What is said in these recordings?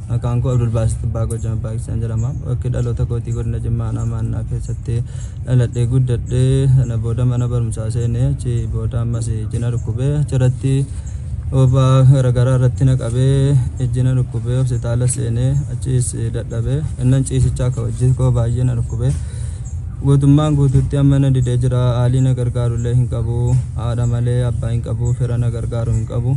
Maqaan koo Abdulbaasit Abbaa Goojama Paakistaan jedhama. Bakki dhaloota kootii godina Jimmaa aanaa Maannaa keessatti dhaladhee guddadhe. Sana booda mana barumsaa seene. Achi booda ammas ijji na dhukkube. Achirratti oobaa garaagaraa irratti na qabee ijji na dhukkube. Hospitaala seene. Achiis dadhabe. Innan ciisichaa akka hojii koo baay'ee na dhukkube. Guutummaan guutuutti amma na didee jira. Haalii na gargaaru illee hin qabu. Haadha malee abbaa hin qabu. Fira na gargaaru hin qabu.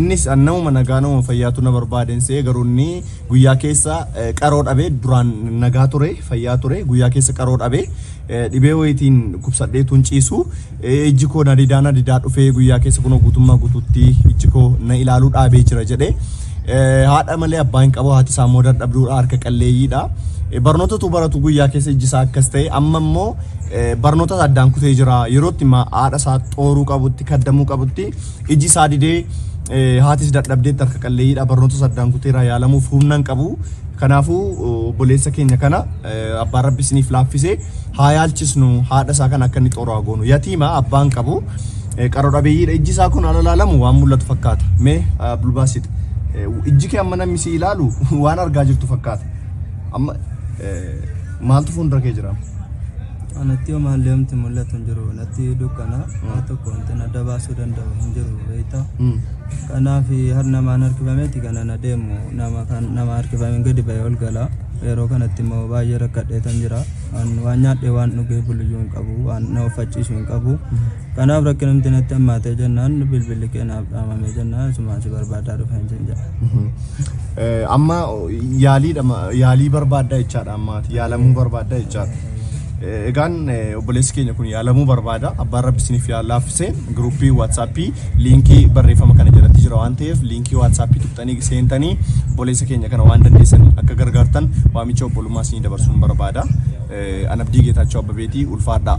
Innis an namuma nagaa namuma fayyaatu na barbaadeen se'e garuu inni guyyaa keessa qaroo dhabe duraan nagaa ture fayyaa ture guyyaa keessa qaroo dhabe dhibee wayitiin dhukkubsadhee tun ciisu ijji koo na didaa na didaa dhufee guyyaa keessa kunoo guutummaa guutuutti ijji koo na ilaaluu dhaabee jira jedhe haadha malee abbaa hin qabu haati isaa immoo dadhabduudha harka qalleeyyiidha. Barnoota utuu baratu guyyaa keessa ijji isaa akkas ta'e amma immoo barnoota addaan kutee jira yerootti haadha isaa xooruu qabutti kaddamuu qabutti Iji isaa didee, haatis dadhabdeetti, harka qalleeyyiidha, barnootas addaan kuteera, yaalamuuf humna hin qabu. Kanaafuu obboleessa keenya kana abbaan rabbi isiniif laaffise haa yaalchisnu haadha isaa kana akka inni xooru haa goonu. Yatiima abbaa hin qabu, qaro dhabeeyyiidha. Ijji isaa kun ala laalamu waan mul'atu fakkaata. Mee Abdulbaasit ijji kee amma namni si ilaalu waan argaa jirtu fakkaata. Amma maaltu fuuldura kee jira? Anatti hoomaan leemti mul'atu hin jiru. Natti dukkana waa tokko wanti na adda baasuu danda'u hin jiru beekta. Kanaaf har namaan harkifameeti kana na deemu nama kan nama harkifameen gadi ba'ee ol gala. Yeroo kanatti immoo baay'ee rakkadheetan jira. Waan waan nyaadhee waan dhugee buluyyuu hin qabu waan na uffachiisu hin qabu. Kanaaf rakkinumti natti hammaatee jennaan bilbilli kee naaf dhaamamee jennaan asumaan si barbaadaa dhufeen sin jedha. Eh, Amma yaaliidha ma- yaalii barbaaddaa jechaadha ammaati yaalamuu barbaaddaa jechaadha. Eh, Egaan eh, obboleessi keenya kun yaalamuu barbaada abbaan rabbi isiniif yaa laaffisee giruuppii waatsaappii liinkii barreeffama kana jalatti jira waan ta'eef liinkii waatsaappii tuqxanii seentanii obboleessa keenya kana waan dandeessan akka gargaartan waamicha obbolummaa isinii dabarsuun barbaada. Eh, Anabdii Geetaachoo Abbabeetii ulfaadhaa.